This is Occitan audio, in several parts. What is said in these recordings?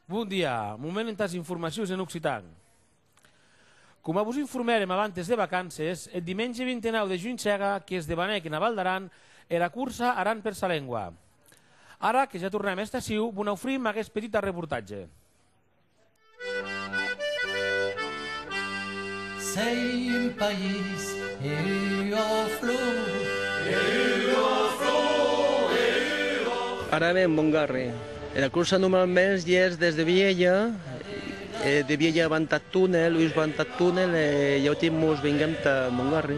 Bon dia, moment entàs informacions en occitan. Coma vos informèrem abantes de vacances, eth dimenge 29 de junh hèra que's debanèc ena Val d'Aran era cursa Aran per sa lengua. Ara que ja tornam hèsta aciu, vos n'aufrim aguest petit arreportatge. S'ei un país e ua flor. Ara ven mon garre. Era cursa numero mens dies des de Vielha, e de Vielha van tà Tunel, uish van tà Tunel e iauti mos venguem tà mon garre.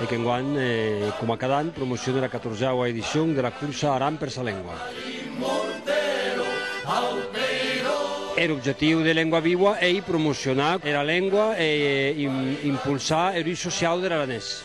e qu'enguan, coma cada an, promocione la catorzèua edicion de la corsa Aran per sa lengua. Er objectiu de Lengua Viua ei promocionar era lengua e impulsar er us sociau der aranés.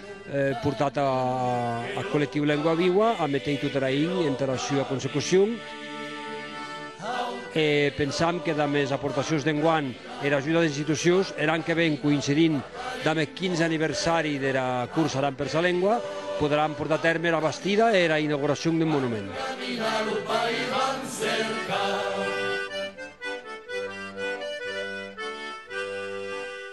portat ath Collectiu Lengua Viua a meteir tot era hinhi entara sua consecucion e pensam que damb es aportacions d'enguan e era ajuda des institucions er an que ven coïncidint damb eth 15 aniversari dera Cursa Aran per sa Lengua poderàn portar a tèrme era bastida e era inauguracion deth monument.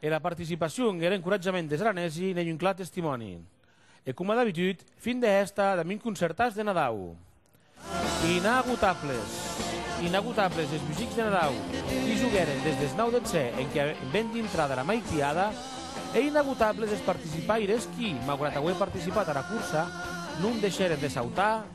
E la participacion e er encoratjament des aranesi n'ei un clar testimòni. E coma d'abitud, fin de hèsta damb un concertàs de Nadau. Inagotables! Inagotables es musics de Nadau, qui joguèren des deth nau detzè enquia ben dintrà dera maitiada, e inagotables es participaires qui, maugrat auer participat ara cursa, non deishèren de sautar,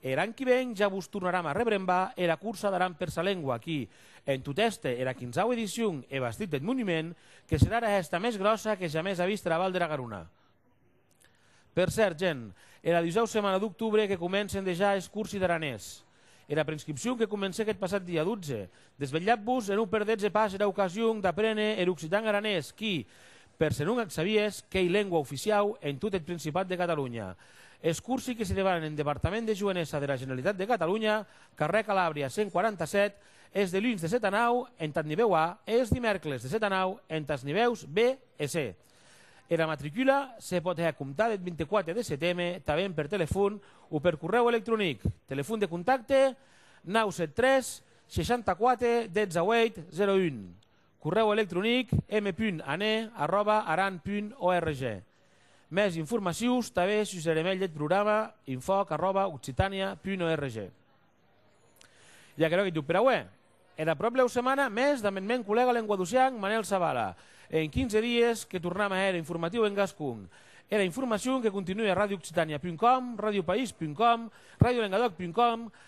Er an qui ven ja vos tornaram a rebrembar era cursa d'Aran per sa lengua qui, en tot èster era quinzau edicion e bastit deth monument, que serà era hèsta mès gròssa que jamès a vist era Val dera Garona. Per cèrt, Gen. Era dusau setmana d'octubre que comencen dejà es cursi d'aranés. Era preinscripcion que comencèc eth passat dia 12, Desvelhatz-vos e non perdetz pas era ocasion d'aprene er occitan aranés qui, per se non ac sabies, qu'ei lengua oficiau en tot eth Principat de Catalunya. Es cursi que se debanan en Departament de Joenesa dera Generalitat de Catalunya, carrèr Calàbria 147, es deluns de set a nau entath nivèu A e es dimèrcles de set a nau entaths nivèus B e C. Era matricula se pòt hèr a comptar deth 24 de seteme tanben per telefon o per corrèu electronic. Telefon de contacte, 973 64 18 01, corrèu electronic m.ane arròba aran punt org. Mès informacions tanben sus er email deth programa infòc arròba occitània punt org. I aquerò qu'ei tot per aué. Era pròplèu setmana mès damb eth mèn collèga lenguadocian Manel Zavala e en 15 dies que tornam a hèr informatiu en gascon. Era informacion que continue a radioccitània.com, radiopaís.com, radiolengadòc.com,